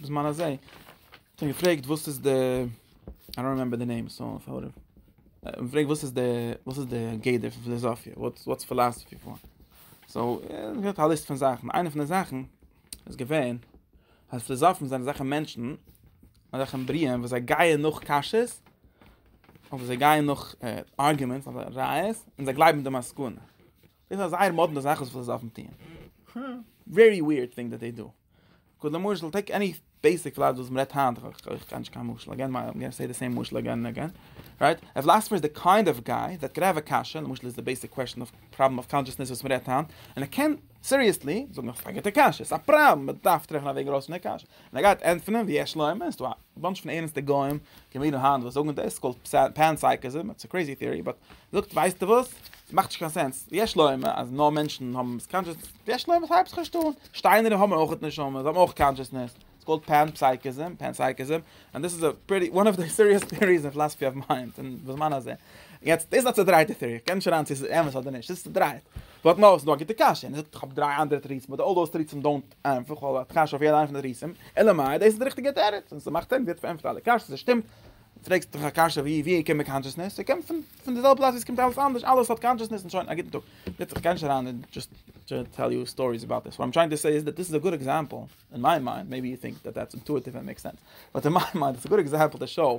בזמן הזה, כ'האב געפרעגט וואס איז די, איי דאנט רימעמבער די נעים סא וואטעווער, כ'האב געפרעגט וואס איז די, וואס איז די גדר פון פיליזאפיע, וואטס פיליזאפיע פאר? סא, געהאט א ליסט פון זאכן, איינע פון די זאכן איז געווען אז פיליזאפן זענען אזעלכע מענטשן, אזעלכע בריאים וואס זיי גייען נאך קשיא'ס, אדער זיי גייען נאך ארגומענטס אדער ראיות, און זיי גלייבן די מסקנא. דאס איז א זייער מאדנע זאך וואס פיליזאפן טוען. ווערי וויערד טינג דעט דעי דא. קודם למשל טעיק עני בעיסיק פלאד וואס מ'רעדט היינט, איך קען נישט קיין משל אגעין, מיי איים גאנע סעי די סעים משל אגעין און אגעין, רייט, א פילאסעפער איז די קיינד אוו גיי דעט קען האוו א קשיא, למשל איז די בעיסיק קוועסטשן אוו פראבלעם אוו קאנשעסנעס וואס מ'רעדט היינט, און ער קען סיריעסלי זאגן אז ס'איז א גוטע קשיא, ס'איז א פראבלעם, מ'דארף טרעפן א וועג ארויס פון די קשיא, און ער גייט ענטפערן ויש לומר, ס'דא א. א באנטש פון ערענסטע גוים קומען אן היינט וואס זאגן דאס קאלד פענסייקעזים איטס א קרעזי טעארי באט זאגט ווייסטע וואס ס'מאכט נישט קיין סענס יש להם אז נאר מענטשן האבן סקאנטשעס יש להם הייבסט נישט אן שטיינער האבן אויך נשמה זיי האבן אויך קאנטשעסנעס איטס קאלד פענסייקעזים פענסייקעזים און דאס איז א פרעטי וואן אוו די סיריעס טעאריס אין פילאסעפי אוו מיינד און בזמן הזה יעצט דאס איז א צעדרייטע טעארי כ'קען נישט אריין צו ס'איז אמת אדער נישט ס'איז צעדרייט באט נאו ס'איז דא א גוטע קשיא און ער זאגט כ'האב דריי אנדערע תירוצים באט אלל דאוז תירוצים דאונט איינפאך ווייל האט קשיא אויף יעדע איינע פון די ריסים, אלא מאי דאס איז די ריכטיגע תירוץ און ס'מאכט סענס יעצט פארענטפערט אלע קשיות און ס'שטימט, פרעגסט דאך א קשיא ווי ווי קומט קאנטשעסנעס? ס'קומט פון פון די זעלבע פלאץ ווי ס'קומט אלעס אנדערש, אלעס האט קאנטשעסנעס און שוין, א גוטן טאג. יעצט איך גיי נישט אריין אין דזשאסט טשו טעל יו סטאריס אבאוט דיס, וואט איים טרייענג טו סעי איז דאט דיס איז א גוד עקזעמפל, אין מיי מיינד, מעיבי יו טינק דעט דעטס אינטואיטיוו און מעיקס סענס, באט אין מיי מיינד איז א גוד עקזעמפל טו שאו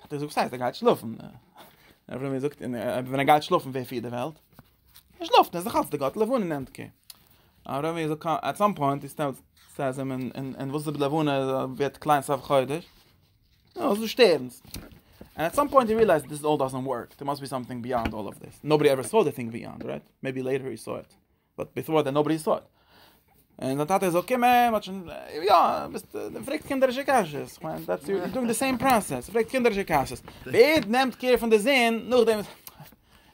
האט ער געזאגט וואס הייסט ער גייט שלאפן ער האט מיר געזאגט אין ווען ער גייט שלאפן ווער פירט די וועלט ער שלאפט איז דאך אלס די גאט לבון אין ענדקע ער האט מיר געזאגט אט סאם פוינט איז סטעלט סטעלט זיי מען אין אין וואס די לבון ווערט קליין סוף חודש נו אזוי שטערנס And at some point he realized this all doesn't work. There must be something beyond all of this. Nobody ever saw the thing beyond, right? Maybe later he saw it. באט ביפאר דעט נאובאדי סא איט. און זיין טאטע איז אויך געקומען, מ'האט שוין, יא, ביסט, דו פרעגסט קינדערישע קשיות, כ'מיין, דעטס יור, יור דואינג די סעים פראסעס, דו פרעגסט קינדערישע קשיות. ווער נעמט קעיר פון די זון נאכדעם וואס,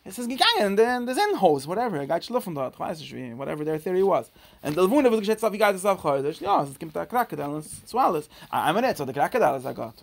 עס איז געגאנגען אין די זון הויז, וואטעווער, ער גייט שלאפן דארט, כ'ווייס נישט ווי, וואטעווער דער טעארי וואס. און די לבנה וואס געשעט סוף יאר גייט עס אויף חודש, יא, עס קומט א קראקעדייל און עס איז צו אלעס. איי מינוט, סאו די קראקעדייל איז א גאט?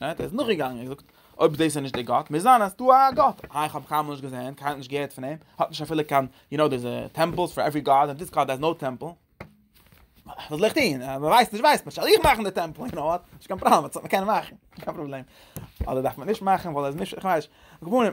ער איז נאכגעגאנגען און געזאגט, אויב דאס איז נישט דער גאט, מוז זיין אז דא איז א גאט, א איך האב קיינמאל נישט געזען, קיינמאל נישט געהערט פון אים, האט נישט אפילו קיין, יו נאו דעירס טעמפלס פאר עווערי גאד און דיס גאד העז נאו טעמפל, וואס זאל איך טון, מען ווייסט נישט ווייסט מען, זאל איך מאכן די טעמפל, יו נאו וואט, נישט קיין פראבלעם, וואס האט מען קענען מאכן, נישט קיין פראבלעם, אדער דארף מען נישט מאכן ווייל ער איז נישט, איך ווייס נישט, רבנים.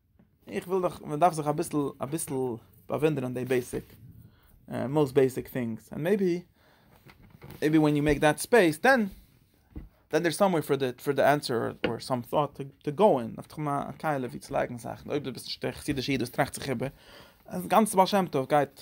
איך וויל דאך מען דארף זיך אביסל אביסל באוואונדערן די בעיסיק מאסט בעיסיק טינגס ענד מעיבי מעיבי ווען יו מעיק דעט ספעיס דען דען דער סאמווער פאר די פאר די ענסער אר סאם טאט טו טו גאו אין אויף תחום הקהלה ווי צו לייגן זאכן אויב דו ביסט נישט א חסידישע איד וואס טראכט זיך איבער אז גאנץ בעל שם טוב גייט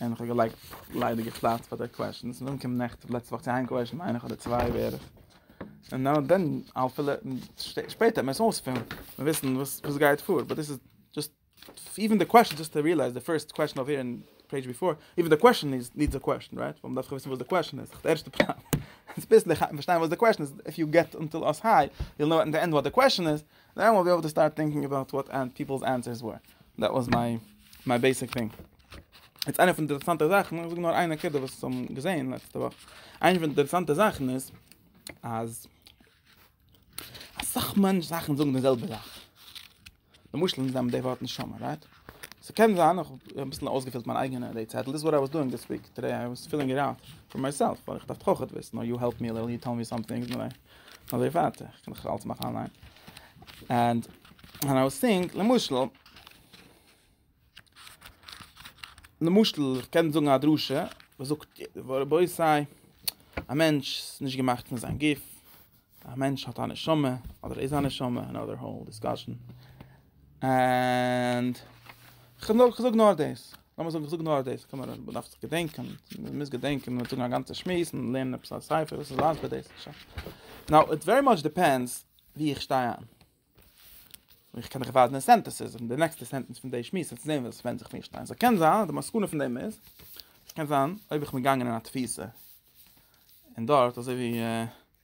און איך האב געלייגט ליידיגע פלאץ פאר די קוועשענס און נאכדעם קומט נעכטן לעצטע וואך צו איין קוועשען איינער אדער צוויי בערך און נאו דען אל פיל איט שפעטער מוז אויספילן און וויסן וואס וואס גייט פאר באט דאס איז דזשאסט איווען די קוועשען דזשאסט טו ריעלייז די פירסט קוועשען אויף אין פעידזש ביפאר איווען די קוועשען איז נידס א קוועשען רייט ווייל מ'דארף וויסן וואס די קוועשען איז די ערשטע פראבלעם ביסלעך פארשטיין וואס די קוועשען איז איף יו געט אנטיל אס היי יו וויל נאו עט די ענד וואט די קוועשען איז נאו אייל בי עיבל טו סטארט טינקינג אבאוט וואט פיפלס ענסערס ווער. דעט וואס מיי מיי בעיסיק טינג. יעצט איינע פון די אינטערעסאנטע זאכן, איך זאג נאר איין נקודה וואס כ'האב געזעהן לעצטע וואך. איינע פון די אינטערעסאנטע זאכן איז אז אסאך מענטש זאכן זאגן די זעלבע זאך. למשל אונז נעמען די ווארט נשמה רייט? ס'קען זיין איך האב אביסל אויסגעפילט מיין אייגענע די צעטל דיס איז וואט איי וואס דואינג דיס וויק טודעי איי וואס פילינג איט אוט פאר מיי סעלף ווייל איך דארף טאך עטוואס נאו יו העלפ מי א ליטעל יו טעל מי סאמטינג. אזוי ווייטער, איך קען דאך אלעס מאכן אליין, ענד ווען איי סינק למשל, למשל איך קען זאגן א דרשה, וואס זאגט רבותי א מענטש איז נישט געמאכט פון זיין גוף, א מענטש האט א נשמה, אדער איז א נשמה, אנאדער האול דיסקאשען, ענד כ'זאג נאר דאס. לאמיר זאגן, איך זאג נאר דאס, קען מען דאס, מ'דארף זיך געדענקען, מ'מוז געדענקען, מ'וועט זאגן א גאנצע שמועס, און לערנען עפעס א ספר, וואס איז אלץ ביי דאס, שוין. נאו, איט ווערי מאטש דיפענדס וואו איך שטיי איין. איך קען דיך ווייזן סענטענסעס, און די נעקסטע סענטענס פון די שמועס, וועסטו זען וואס ווענדט זיך וואו איך שטיי. סאו, קען זיין, די מסקנא פון דעם איז, קען זיין, אויב איך בין געגאנגען אין א תפיסה, און דארט, אזוי ווי,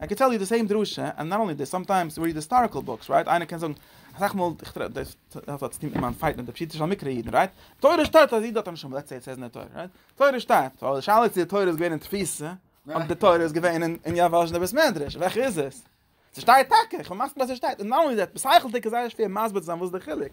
איי קען טעל יו די סעים דרשה, און נאט אנלי דיס, סאמטיימס ריעד היסטאריקעל בוקס, רייט, איינער קען זאגן, אסאך מאל, איך טרעף דאס, דאס האט צוטון מיט מיין פייט מיט די פשוטע של מקרה אידן, רייט, תורה שטייט אז איד האט א נשמה, לעטס סעי איט סעיז אין די תורה, רייט, תורה שטייט, אבער די שאלה איז צו די תורה איז געווען אין תפיסה, אדער די תורה איז געווען אין יאוואזשנער בית מדרש, וועלכע איז עס? ס'שטייט טאקע, כ'בין מסכים אז ס'שטייט, און נאט אנלי דעט, בשכל'דיג איז זייער שווער מסביר צו זיין וואס איז די חילוק,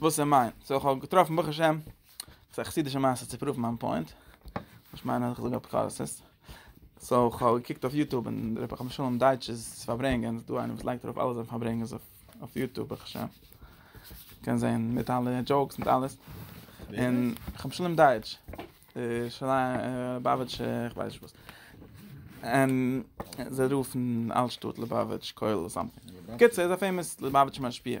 וואס איז מיין? סאו כ'האב געטראפן ברוך השם, ס'איז א חסידישע מעשה צו פראוון מיין פוינט, איך מיין אז איך זאג אפיקורסות, סאו כ'האב געקוקט אויף יוטוב און ר' פנחס משולם דייטש'ס פארברענגען, ס'דא איינער וואס לייגט ארויף אלע זיינע פארברענגעס אויף יוטוב ברוך השם, קען זען מיט אלע דזשאוקס מיט אלעס, און ר' פנחס משולם דייטש, ליובאוויטש כ'ווייס נישט וואס, און זיי רופן אלט שטאט ליובאוויטש כולל אדער סאמטינג, בקיצור איז א פעימאס ליובאוויטש משפיע.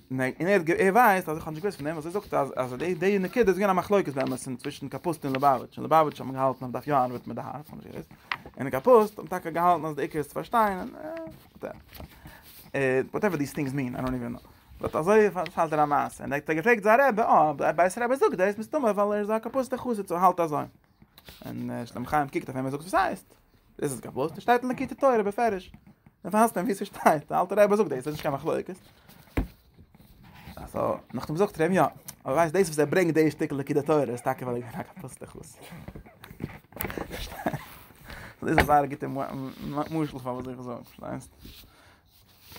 און ער ווייסט אז איך האב נישט געוואוסט פון דעם וואס ער זאגט אז די נקודה איז געווען א מחלוקת באמת צווישן קאפוסט און ליבאוויטש און ליבאוויטש האט געהאלטן אז מען דארף יא ארבעטן מיט די הארץ איך האב נישט געוואוסט און קאפוסט האט טאקע געהאלטן אז די עיקר איז צו פארשטיין און וואטעווער דיס טינגס מין איי דאנט איווען נאו באט אזוי פאלט ער א מעשה און ער האט געפרעגט זיין רבי אה א בית רבי זאגט דאס מסתמא ווייל ער איז א קאפוסטע חסיד סאו האלט אזוי און שלום חיים קוקט אויף אים און זאגט וואס הייסט דאס איז קיין פלא, דאס שטייט אין די קיטע תורה בפירוש. דער פאסט ווי עס שטייט, דער אלטער רב זאגט דאס, איז קיין מחלוקת. אַז אָ, נאָך דעם זאָגט ער אים יאָ, אָ ווייסט דאָס וואָס ער ברענגט דער שטיקל ליקוטי תורה איז טאַקע ווייל ער איז אַ פּוסטער חסיד. פאַרשטייט? דאָס איז אַ זייער גוטער משל פאַר וואָס איך זאָג, פאַרשטייסט?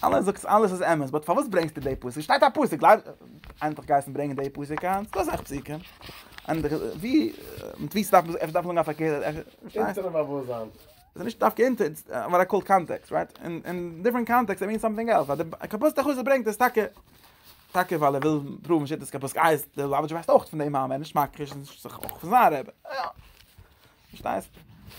אלעס זאגסט אלעס איז אמת, באט פארוואס ברענגסטו דעי פסוק? ס'שטייט א פסוק, ענדליך גייסטו ברענגען דעי פסוק היינט? דא איז אסאך פסוקים. ענדליך, ווי, מיט ווי ס'דארף מען, עפעס דארף מען זאגן א פארקערטע, פארשטייסט? אונטערן באוואוסטזיין. ס'איז נישט דווקא אונטער, וואט איי קאל קאנטעקסט, רייט? אין, אין דיפרענט קאנטעקסט איט מינס סאמטינג עלס. אז די קאפוסטע חסיד ברענגט עס טאקע, טאקע ווייל ער וויל פראוון שיטת קאפוסקא, איי, די לאבאדזשער ווייסט אויך פון דעם מאמר, נישט מכחיש, נישט זיך אויך פון זיין רבי. יא. פארשטייסט?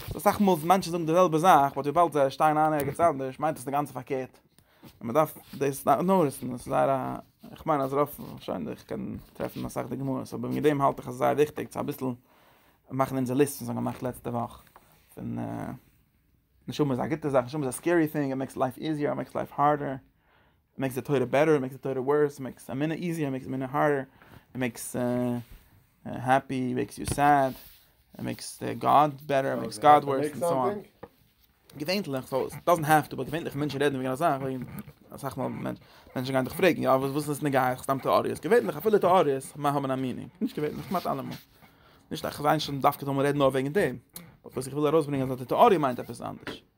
סאו אסאך מאל מענטשן זאגן די זעלבע זאך, באט וויבאלד זיי שטייען איין ערגעץ אנדערש מיינט עס אינגאנצן פארקערט. און מען דארף דאס נאריסן, דאס איז זייער א, איך מיין אז רוב, שוין איך קען טרעפן אסאך דוגמאות, אבער וועגן דעם האלט איך אז ס'איז זייער וויכטיג צו אביסל מאכן אונזער ליסט וואס מיר האבן געמאכט לעצטע וואך, פון נשמה איז א גוטע זאך, נשמה איז א סקערי טינג, איט מעיקס לייף איזיער, איט מעיקס לייף הארדער, מעקס די תורה בעטער, מעקס די תורה ווארס, מעקס א מינע איזיער, מעקס א מינע הארדער, מעקס העפי, מעקס יו סעד, מעקס די גאד בעטער, מעקס גאד ווארס, און סאו אן. געווענליך, סאו עס דאזענט העפ טו, באט געווענליך מענטשן רעדן וועגן א זאך וועגן, אסאך מאל מענטשן גייען דיך פרעגן, יא וואס וואס איז עס נוגע אייך, סתם טעאריעס, געווענליך אפילו טעאריעס האבן א מינינג, נישט געווענליך, כמעט אלעמאל. נישט אז כ'וויל זיין שוין דווקא זאל מען רעדן נאר וועגן דעם, באט וואס איך וויל ארויסברענגען אז די טעאריע מיינט עפעס אנדערש.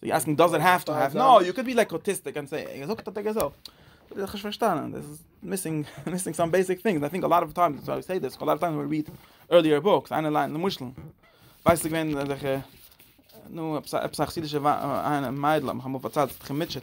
סאו יו אסקינג דאז איט האף טו האף נאו יו קען בי לייק אוטיסטיק אנד סעי ער זאגט אטעקע סאו איך האב נישט פארשטאנען דאס איז מיסינג מיסינג סאם בעיסיק טינגס איי טינק א לאט אוו טיימס סאו סעי דאס א לאט אוו טיימס ווען ריעד ערליער בוקס איינער ליינט למשל ווייסט געווען אזעלכע נו אפסאכסידישע מיידלען האבן פארציילט איך מיטשעט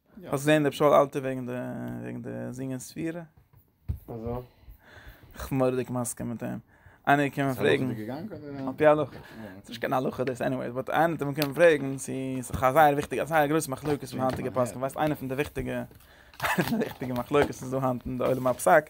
האסט געזען ר' שאול אלתר וועגן די וועגן די זינגען ספירה? וויאזוי? איך בין מורא'דיג מסכים מיט אים. איינער איז געקומען פרעגן. איז עס הלכה דיגע גאנג אדער? עפ י הלכה. ס'איז נישט קיין הלכה דאס עניוועיס, באט איינער האט אים געקומען פרעגן צו ס'איז דאך א זייער וויכטיגע א זייער גרויסע מחלוקת פון היינטיגע פוסקים, ווייסט איינער פון די וויכטיגע איינער פון די וויכטיגע מחלוקת וואס איז דא היינט אין די עולם הפסק?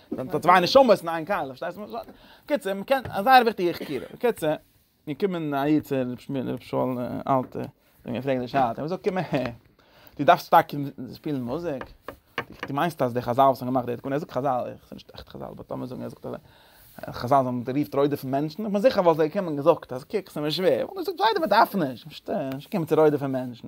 זענען דא צוויי נשמות אין איין קהלה, פארשטייסט וואס איך מיין? קיצער, מען קען, א זייער וויכטיגע חקירה. קיצער, מיר קומען א איד צו רב שמואל, רב שאול אלטע, און מיר פרעגן די שאלה, ער זאגט, קום אהער, דו דארפסט שטארק שפילן מוזיק? דו מיינסט אז די חזל וואס האבן געמאכט די תקנה, ער זאגט חזל, עס איז נישט עכט חזל, באט לאמיר זאגן ער זאגט אזוי, חזל זענען גערופט רודף'ן מענטשן, איך בין זיכער וואלט ער געקומען און געזאגט אז קוק, עס איז מיר שווער, איך וואלט געזאגט זיידע מען דארף נישט, פארשטייען, נישט קומען צו רודף'ן מענטשן.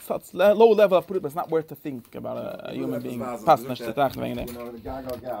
סאטס לאו לעוועל אפ פרטים איז נאט ווארט טו טינק אבאוט א יומען ביאינג פאסט נישט צו טראכטן וועגן דעם.